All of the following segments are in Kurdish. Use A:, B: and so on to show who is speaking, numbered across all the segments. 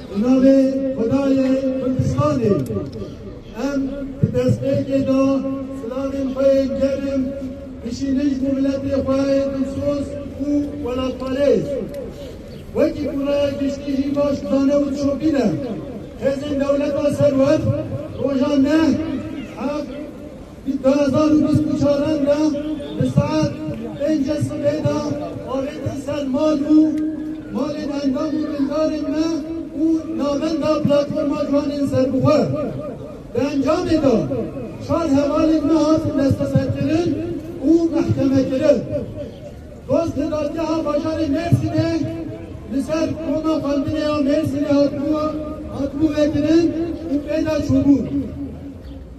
A: Bi navê Xwedayê Kurdistanê em di destpêkê de silavên xwe yên germ bişînin bo miletê xwe yê dilsoz û welatparêz. Wekî ku raya giştî jî baş dizane û dişopîne, hêzên dewleta serwext roja neh, heq, Di du hezar û bîst û çar re de di saet pêncê sibê de avêtin ser mal û malên endam û bindarên me û navenda Platforma Ciwanên Serbixwe. Di encamê de çar hevalên me hatin desteserkirin û mehkemekirin. Dost li dadgeha bajarê Mêrsînê li ser koma xwendinê ya Mêrsînê hatibû vêkirin û pê de çûbûn.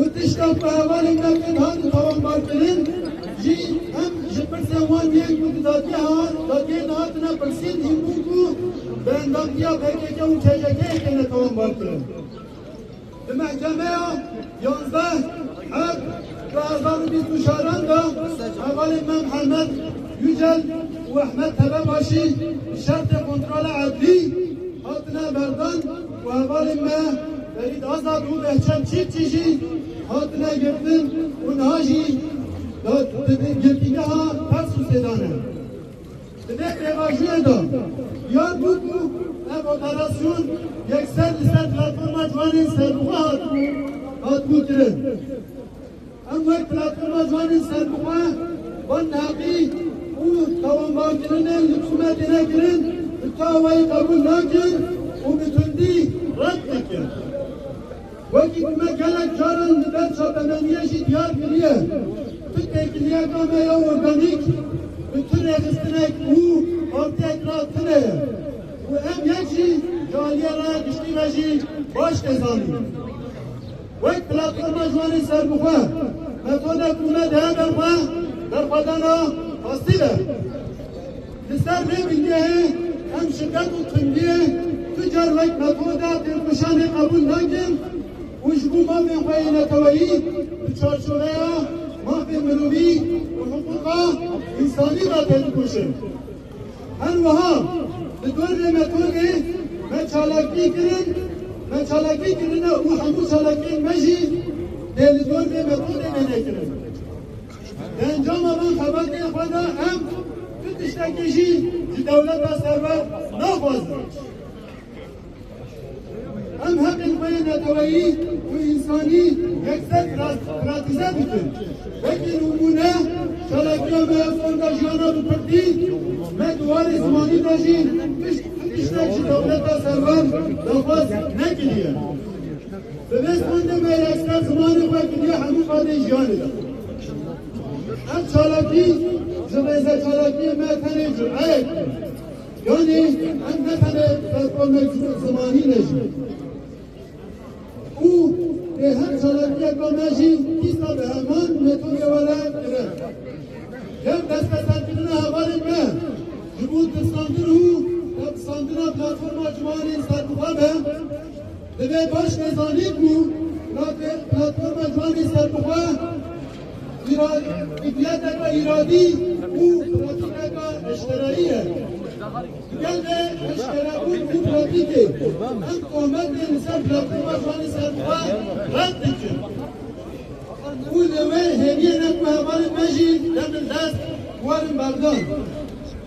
A: û tişta ku hevalên me tên hatin tewambarkirin jî hem ji pirsên wan yên ku di dadgeha de tên hatine pirsîn î bû ku bi endamtiya pkk û KJK'ê têne tewambarkirin. Di mehkemeya yanzdeh Heb du hezar û bîst û çar de hevalên me Mihemed Yücel û Ehmed Tebebaşî bi şertê kontrola edlî hatine berdan. Ku hevalên me Ferîd Azad û Behçet Çîfçî jî hatine girtin û niha jî di girtîgeha Tarsusê de ne. Di vê pêvajoyê de diyar bû ku ev operasyon yekser li ser platforma ciwanên serbixwe hatibû kirin. Em wek Platforma Ciwanên Serbixwe van neqî û tawanbarkirinên li Sûme têne kirin bi tawayî qebûl nakin û bi tundî red dikin. Wekî ku me gelek caran li ber çapemeniyê jî diyar kiriye, tu têkiliyeka me ya organîk bi tu rêxistinek û partiyek re tune ye û em yek jî ji aliyê raya giştî re jî baş tê zanîn. Wek Platforma Ciwanên Serbixwe metoda ku me dihe ber xwe berxwedana pasîl e. Li ser vê bingehê em şiddet û tundiyê tu car wek metoda têkoşanê qebûl nakin û ji bo mafên xwe yê neteweyî di çarçoveya mafên mirovî û hiqûqa însanî de têdikoşin. Her wiha li dorê me tolê me çalakî kirin, me çalakî kirine û hemû çalakiyên me jî dê li dorê me tolê wêne kirin. Di encama van xebatê xwe de em tu tiştekî jî ji dewleta serwer naxwazin. Em heqên xwe yê neteweyî û însanî yekser pratize dikin. Wekî nimûne çalakiya me ya fonda jiyana bi pirdî me di warê zimanî de jî tiştek ji dewleta servan daxwaz nekiriye. Bi vê fondê me yekser zimanê xwe kiriye hemû qadên jiyanê de. Ev çalakî ji rêze çalakiyê me tenê cureyek bû. Yanî em ne tenê performekî zimanî ne jî û dê her çalakiyeke me jî dîsa bi heman metodê we re dire. Yew destbeserkirina hevalên me ji bo tirsandin û tepsandina platforma ciwanên serbixwe be divê baş vê zanîn ku platforma ciwanên serbixwe Îradîyeteke îradî û pratîkeke eşkerayî ye. Di gel vê eşkerebûn û pratîkê em tohmetên li ser platforma Şanê Serbuxwe red dikin û li wê hêviyê ne ku hevalên me jî demên dest werin berdan.